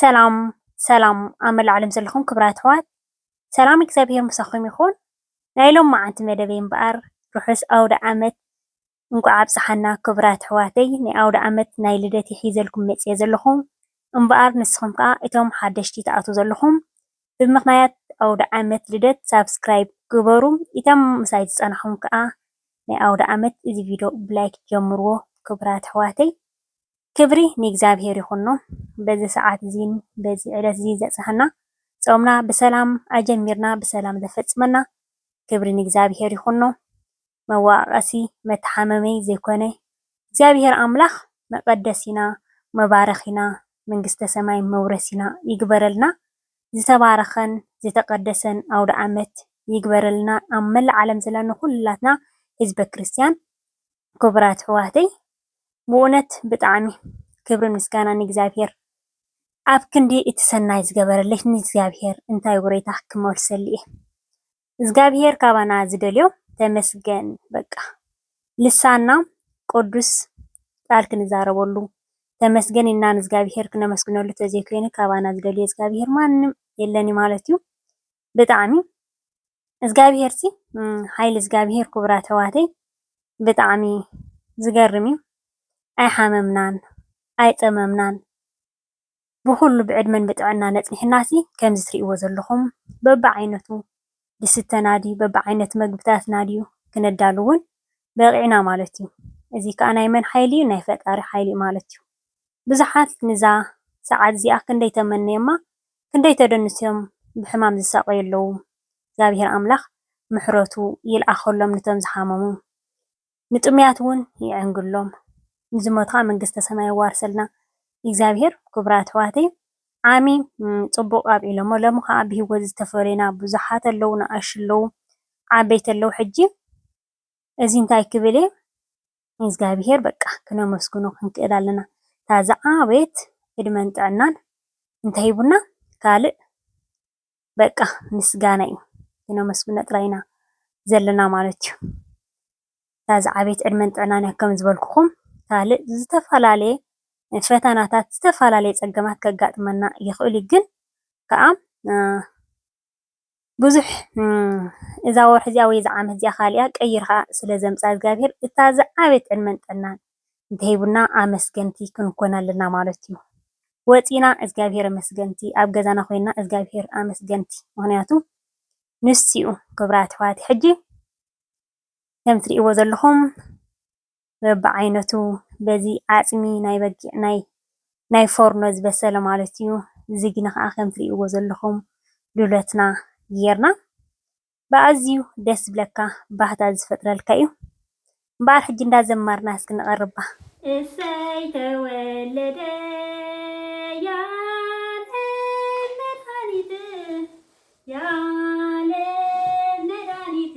ሰላም ሰላም ኣብ መላእ ዓለም ዘለኹም ክብራት ኣሕዋት ሰላም እግዚኣብሔር ምሳኹም ይኹን። ናይ ሎም መዓንቲ መደበይ እምበኣር ርሑስ ኣውደ ዓመት እንቋዕ ኣብጽሓና ክብራት ኣሕዋተይ። ናይ ኣውደ ዓመት ናይ ልደት ሒዘልኩም መጽየ ዘለኹ እምበኣር ንስኹም ከኣ እቶም ሓደሽቲ ትኣትዉ ዘለኹም ብምኽንያት ኣውደ ዓመት ልደት ሳብስክራይብ ግበሩ። እቶም ምሳይ ዝጸናሕኩም ከኣ ናይ ኣውደ ዓመት እዚ ቪድዮ ብላይክ ጀምርዎ ክብራት ኣሕዋተይ። ክብሪ ንእግዚኣብሔር ይኹኖ በዚ ሰዓት እዚን በዚ ዕለት እዚን ዘብጽሐና ጾምና ብሰላም ኣጀሚርና ብሰላም ዘፈጽመና ክብሪ ንእግዚኣብሔር ይኹኖ መዋኣቀሲ መተሓመመይ ዘይኮነ እግዚኣብሔር ኣምላኽ መቀደሲና መባረኪና መንግስተ ሰማይ መውረሲና ይግበረልና ዝተባረኸን ዝተቀደሰን ኣውደኣመት ይግበረልና ኣብ መላእ ዓለም ዘለና ኩላትና ህዝበ ክርስትያን ክቡራት ኣሕዋተይ ብእውነት ብጣዕሚ ክብርን ምስጋናን ንእግዚኣብሄር ኣብ ክንዲ እቲ ሰናይ ዝገበረለይ ንእግዚኣብሄር እንታይ ውሬታ ክመልሰሉ እየ እግዚኣብሄር ካባና ዝደልዮ ተመስገን በቃ ልሳና ቅዱስ ቃል ክንዛረበሉ ተመስገን ኢልና ንእግዚኣብሄር ክነመስግነሉ ተዘይኮይኑ ካባና ዝደልዮ እግዚኣብሄር ማንም የለን ማለት እዩ። ብጣዕሚ እዝጋብሄር ሲ ሓይሊ እዝጋብሄር ክቡራት ኣሕዋተይ ብጣዕሚ ዝገርም እዩ። ኣይሓመምናን ኣይፀመምናን ብኹሉ ብዕድመን ብጥዕናን ኣፅኒሕና ሲ ከምዚ ትሪእዎ ዘለኹም በቢዓይነቱ ዝስተና ድዩ በቢዓይነቱ ምግብታትና ድዩ ክነዳሉ እውን በቒዕና ማለት እዩ። እዚ ከዓ ናይ መን ሓይሊ እዩ ናይ ፈጣሪ ሓይሊ እዩ ማለት እዩ። ብዙሓት ንዛ ሰዓት እዚኣ ክንደይ ተመንዮማ ክንደይ ተደንስዮም ብሕማም ዝሳቀዩ ኣለዉ እግዚኣብሔር ኣምላክ ምሕረቱ ይልኣከሎም ንቶም ዝሓመሙ ንጥሙያት ውን ይዕንግሎም ንዝሞቱ ከኣ መንግስተ ሰማይ የዋርሰልና እግዚኣብሔር ክብራት ኣሕዋተይ ዓሚ ጽቡቅ ኣብዒሎሞ ለሚ ከኣ ብሂወት ዝተፈለዩና ብዙሓት ኣለዉ ንኣሽቱ ኣለዉ ዓበይቲ ኣለዉ ሕጂ እዚ እንታይ ክብል እየ ንእዝጋቢሄር በቃ ክነመስግኖ ክንክእል ኣለና እታ ዝዓበየት ዕድመን ጥዕናን እንተሂቡና ካልእ በቃ ምስጋና እዩ ክነመስግኖ ጥራይ ኢና ዘለና ማለት እዩ እታ ዝዓበየት ዕድመን ጥዕናን እያ ከም ዝበልኩኹም ካልእ ዝተፈላለየ ፈተናታት ዝተፈላለየ ፀገማት ከጋጥመና ይኽእል እዩ ግን ከኣ ብዙሕ እዛ ወርሒ እዚኣ ወይ እዛ ዓመት እዚኣ ካሊኣ ቀይርካ ስለ ዘምፅኣ እግዚኣብሔር እታ ዝዓበየት ዕድመን ጥዕናን እንተሂቡና ኣመስገንቲ ክንኮን ኣለና ማለት እዩ። ወፂና እግዚኣብሔር ኣመስገንቲ ኣብ ገዛና ኮይና እግዚኣብሔር ኣመስገንቲ ምክንያቱ ንሱ እዩ ክብራት ኣሕዋተይ ሕጂ ከም እትሪእዎ ዘለኩም በብዓይነቱ በዚ ዓጽሚ ናይ በጊዕ ናይ ናይ ፎርኖ ዝበሰለ ማለት እዩ ዝግኒ ከኣ ከም ትርእይዎ ዘለኹም ዱለትና ጌርና ብኣዝዩ ደስ ዝብለካ ባህታ ዝፈጥረልካ እዩ እምበኣር ሕጂ እንዳ ዘማርና እስኪ ንቐርባ። እሰይ ተወለደ ያለም መድሃኒት ያለም መድሃኒት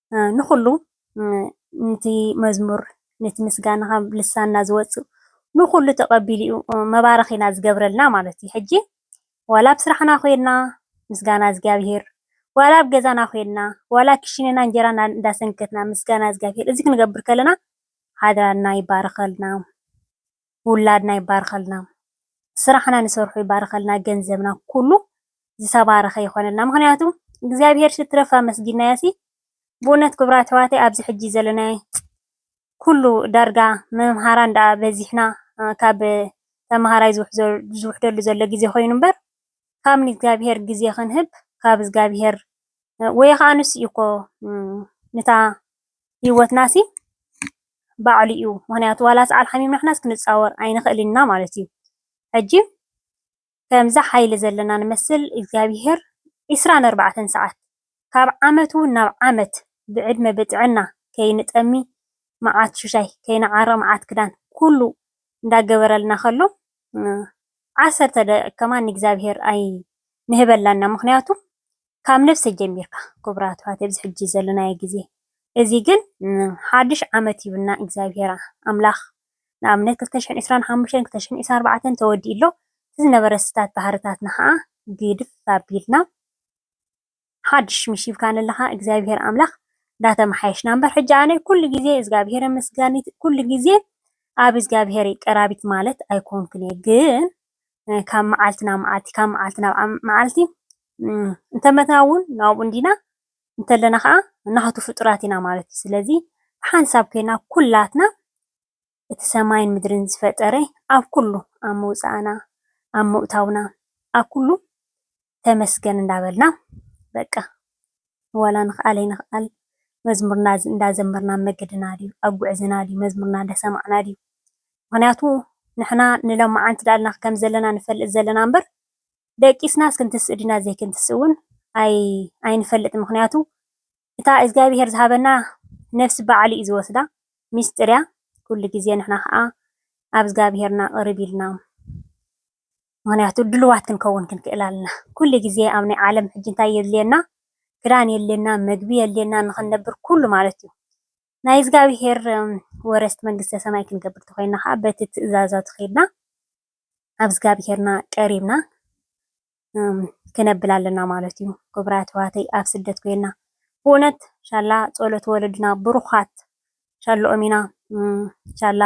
ንኹሉ ንቲ መዝሙር ነቲ ምስጋና ካብ ልሳንና ዝወጽእ ንኹሉ ተቐቢሉ እዩ መባረኺና ዝገብረልና ማለት እዩ። ሕጂ ዋላ ኣብ ስራሕና ኮይና ምስጋና እግዚኣብሄር፣ ዋላ ኣብ ገዛና ኮይና፣ ዋላ ክሽነና እንጀራ እንዳሰንከትና ምስጋና እግዚኣብሄር እዚ ክንገብር ከለና ሃገርና ይባረኸልና። ውላድና ይባርኸልና ስራሕና ንሰርሖ ይባርኸልና ገንዘብና ኩሉ ዝተባረኸ ይኾነልና ምኽንያቱ እግዚኣብሄር ሽትረፍ ኣመስጊናዮሲ ብእውነት ክብራት ኣሕዋተይ ኣብዚ ሕጂ ዘለናዮ ኩሉ ዳርጋ መምሃራን ደኣ በዚሕና ካብ ተምሃራይ ዝውሕደሉ ዘሎ ግዜ ኮይኑ እምበር ካብ ንእግዚኣብሄር ግዜ ክንህብ ካብ እግዚኣብሄር ወይ ከዓ ንሱ እዩ እኮ ንታ ሂወትናሲ ባዕሉ እዩ ምክንያቱ ዋላ ሰዓል ሓሚምና ንሕናስ ክንጻወር ኣይንክእልን ኢና ማለት እዩ ሕጂ ከምዚ ሓይሊ ዘለና ንመስል እግዚኣብሄር ዕስራን ኣርባዕተን ሰዓት ካብ ዓመት ዉን ናብ ዓመት ብዕድመ ብጥዕና ከይንጠሚ መዓት ሽሻይ ከይንዓርቅ መዓት ክዳን ኩሉ እንዳገበረልና ከሎ ዓሰርተ ደቂቅ ከማን ንእግዚኣብሄር ኣይንህበላን ኢና ምክንያቱ ካብ ነብሰይ ጀሚርካ ክቡራት ኣሕዋት ኣብዚ ሕጂ ዘለናዮ ግዜ እዚ ግን ሓድሽ ዓመት ሂቡና እግዚኣብሄር ኣምላኽ ንኣብነት ክልተ ሽሕን ዕስራን ሓሙሽተን ክልተ ሽሕን ዕስራን ኣርባዕተን ተወዲኡ ኣሎ እቲ ዝነበረ ስታት ባህርታትና ኸኣ ግድፍ ኣቢልና ሓድሽ ሽምሽ ሂብካኒ ኣለኻ እግዚኣብሄር ኣምላኽ እንዳተመሓየሽና እምበር ሕጂ ኣነ ኩሉ ግዜ እግዚኣብሄር ኣመስጋኒት ኩሉ ግዜ ኣብ እግዚኣብሄር ቀራቢት ማለት ኣይኮንኩን እየ ግን ካብ መዓልቲ ናብ መዓልቲ ካብ መዓልቲ ናብ መዓልቲ እንተመትና እውን ናብኡ እንዲና እንተለና ኸዓ ናሃቱ ፍጡራት ኢና ማለት እዩ። ስለዚ ብሓንሳብ ኮይና ኩላትና እቲ ሰማይን ምድርን ዝፈጠረ ኣብ ኩሉ ኣብ ምውፃእና ኣብ ምእታውና ኣብ ኩሉ ተመስገን እንዳበልና በቃ ዋላ ንክኣል ኣይንክኣል መዝሙርና እንዳዘመርና ኣብ መገድና ድዩ ኣብ ጉዕዝና ድዩ መዝሙርና እንዳሰማዕና ድዩ ምክንያቱ ንሕና ንሎማዓንቲ ዳኣልና ከምዘለና ንፈልጥ ዘለና እምበር ደቂስናስ ክንትስእ ዲና ዘይክንትስእ ውን ኣይ ኣይንፈልጥን ምክንያቱ እታ እዝጋቢሄር ዝሃበና ነብሲ ባዕሉ እዩ ዝወስዳ ሚስጢር እያ ኩሉ ግዜ ንሕና ከኣ ኣብ እዝጋቢሄርና ቅርብ ኢልና ምክንያቱ ድልዋት ክንከውን ክንክእል ኣልና ኩሉ ግዜ ኣብ ናይ ዓለም ሕጂ እንታይ የድልየና ክዳን የድልየና መግቢ የድልየና ንክንነብር ኩሉ ማለት እዩ ናይ እግዚኣብሄር ወረስቲ መንግስተ ሰማይ ክንገብር ተኮይና ከዓ በቲ ትእዛዛቱ ከድና ኣብ እግዚኣብሄርና ቀሪብና ክነብል ኣለና ማለት እዩ ክቡራት ኣሕዋተይ ኣብ ስደት ኮይና ብእውነት ሻላ ጸሎት ወለድና ብሩኻት ሻሎኦም ኢና ሻላ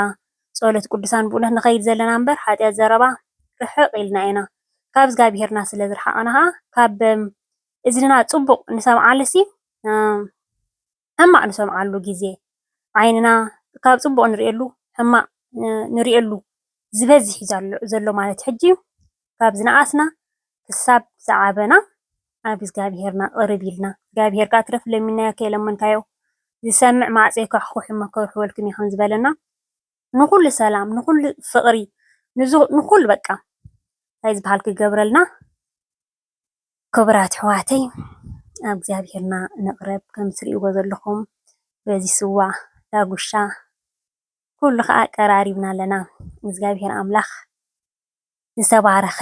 ጾሎት ቁዱሳን ብኡነት ንከይድ ዘለና እምበር ሓጥያት ዘረባ ርሕቅ ኢልና ኢና ካብ እዝጋቢሄርና ስለ ዝርሓቅና ከኣ ካብ እዝንና ጽቡቅ ንሰምዓሉሲ ሕማቅ ንሰምዓሉ ግዜ ዓይንና ካብ ጽቡቅ ንሪኤሉ ሕማቅ ንሪኤሉ ዝበዝሕ እዩ ዘሎ ማለት ሕጂ ካብ ዝነኣስና ክሳብ ዝዓበና ናብ እግዚኣብሄርና ቅርብ ኢልና እግዚኣብሄር ከኣ ትረፍ ለሚናዮ ከይለመንካዮ ዝሰምዕ ማዕጾ ይኳሕዂሕ እሞ ከውሕወልኩም እዩ ከም ዝበለና ንኹሉ ሰላም ንኹሉ ፍቕሪ ንኹሉ በቃ እንታይ ዝበሃል ክገብረልና ክቡራት ኣሕዋተይ ናብ እግዚኣብሄርና ንቕረብ ከም እትርእይዎ ዘለኹም በዚ ስዋ ዳጉሻ ኩሉ ከዓ ቀራሪብና ኣለና እግዚኣብሄር ኣምላኽ ዝተባረኸ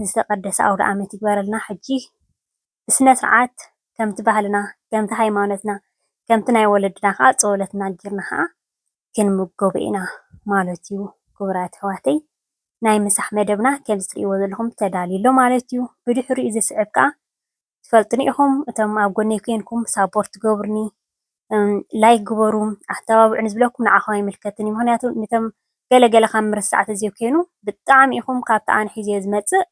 ዝተቀደሰ ኣውድኣመት ይግበረልና ሕጂ ብስነስርዓት ከምቲ ባህልና ከምቲ ሃይማኖትና ከምቲ ናይ ወለድና ከኣ ጸወለትና ጊርና ከኣ ክንምገቦ ኢና ማለት እዩ ክቡራት ኣሕዋተይ ናይ ምሳሕ መደብና ከምዚ ትርእይዎ ዘለኹም ተዳልዩ ኣሎ ማለት እዩ ብድሕሪኡ ዝስዕብ ከኣ ትፈልጥኒ ኢኹም እቶም ኣብ ጎነይ ኮይንኩም ሳፖርት ትገብሩኒ ላይክ ግበሩ ኣተባብዑኒ ዝብለኩም ንዓኹም ኣይምልከትን እዩ ምክንያቱ ነቶም ገለ ገለ ካብ ምርሳዕ ተዘይኮይኑ ብጣዕሚ ኢኹም ካብቲ ኣነ ሒዘ ዝመፅእ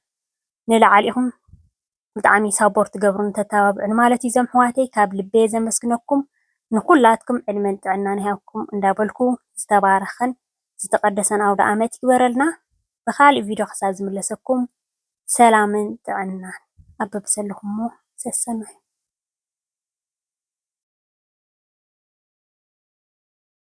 ንላዕሊ ኢኹም ብጣዕሚ ሳፖርት ትገብሩኒ ተተባብዑኒ ማለት እዩ እዞም ኣሕዋተይ ካብ ልበየ ዘመስግነኩም ንኩላትኩም ዕድመን ጥዕናን ይሃብኩም እንዳበልኩ ዝተባረኸን ዝተቀደሰን ኣውደኣመት ይግበረልና ብካሊእ ቪድዮ ክሳብ ዝምለሰኩም ሰላምን ጥዕናን ኣብ በብዘለኹሞ ሰሰኑ።